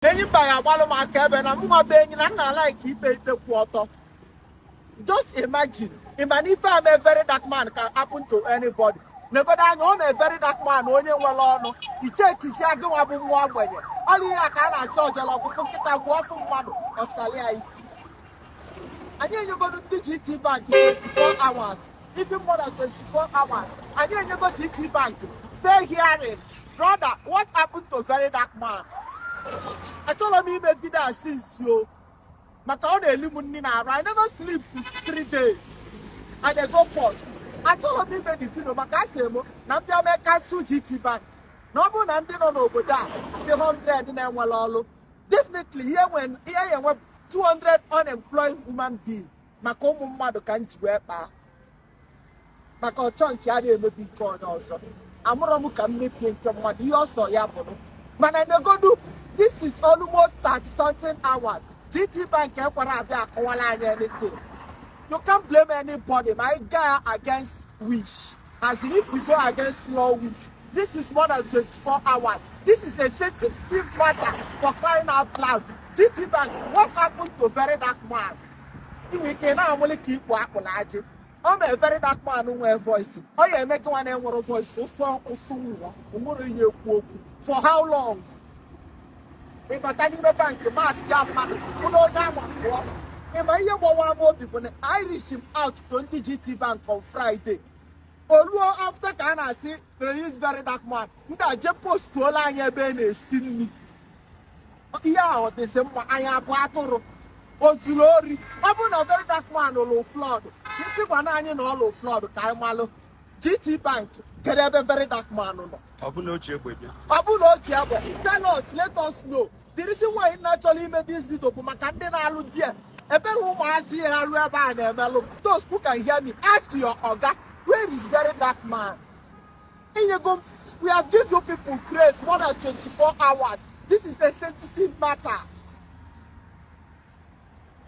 enyi mba ya agbalụ m aka ebe na mụnwa bụ onye na-alike ikpe ikpe kwụ ọtọ just imagine ịma na ife a mee very dark man can happen to anybody negodo anya ọ mee very dark man onye nwere ọnụ ị checkizia gịnwa bụ nwa ogbenye ọlụ ihe a ka a na-achọ ọjọrọ ọgwụfụ nkịta gwụọ ofu mmadụ ọsali ya isi anyị enyegodo ndị GT Bank 24 hours even more than 24 hours anyị enyego GT Bank fair hearing brother what happened to very dark man achọrọ m ime vidio a since o maka ọ na-eli m nri n'arụ I never sleep since three days I dey go port achọrọ m ime the video maka asị m na m bịa mee cancel GT Bank na ọ bụrụ na ndị nọ n'obodo a dị 100 na-enwerọ ọrụ definitely i ya enwe i ya enwe 200 unemployed human being maka ụmụ mmadụ ka m ji wee kpaa maka ọchọ nke ya adị emebi nke onye ọzọ amụrọ m ka m mebie nke mmadụ ihe ọ sọ ya bụrụ mana negodu this is almost 30 something hours GT Bank ekwerọ abịa akọwalụ anyị anything you can't blame anybody my guy against wish as in if we go against law wish this is more than 24 hours this is a sensitive matter for crying out loud GT Bank what happened to very dark man i nwe ike ị na-aṅụlị ka ikpu akpụlụ ajị ọ mee very dark man nwee voice ọ ya eme gị nwa na-enwerọ voice ụsọ ụsụ nwa onwere ihe ekwu okwu for how long ị bata n'ime bank mask ya mmadụ bulu onye anwa pụọ ị ma ihe gbawa m obi bụ na areachi m out to ndị GT Bank on Friday o luo after ka a na-asị release very dark man ndị a je postuolụ anyị ebe a na-esi nri ihe a adịzi mma anyị abụ atụrụ o zuru ori ọ bụrụ na very dark man lụlụ fraud ndị gwanụ anyị na ọ lụ fraud ka anyị malụ GT Bank kedu ebe very dark man nọ ọ bụ na o ji egbe bịa ọ bụrụ na o ji egbe tell us let us know the reason why m na-achọrọ ime this video bụ maka ndị na-alụ there ebere ụmụazị na-alụ ebe a na-emelụ those who can hear me ask your oga where is very dark man Inyego, we have give you people grace more than 24 hours. This is a sensitive matter.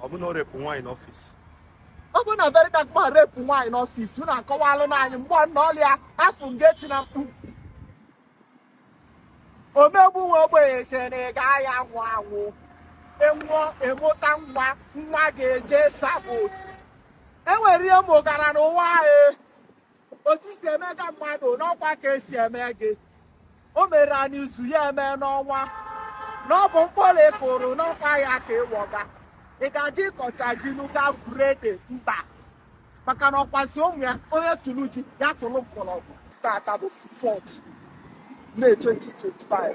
Ọ bụ na ọ rape nwaanyị n'office. Ọ bụrụ na very dark man rape nwaanyị n'office, unu akọwalụ nụ anyị mgbe ọ nọ ọlịa afọ ngeti na mkpu. Omegbu nwa ogbenye chere na ị ga-aya anwụ anwụ. Enwụọ emụta nwa, nwa ga-eje sabot. Enwere ihe mụgara n'ụwa anyị. otu i si emega mmadụ n'ọkwa ka e si eme gị o merọ n'izu ya eme n'ọnwa na ọ bụ mkpụrụ ị kụrụ n'ọkwa ya ka ị wọga ị ga-asị ị kọcha ji na ị gaa foro ede mba maka na ọkwa sị ụmụ ya onye tụrụ ji ya tụrụ mkpọrọgwụ taata bụ 4 May 2025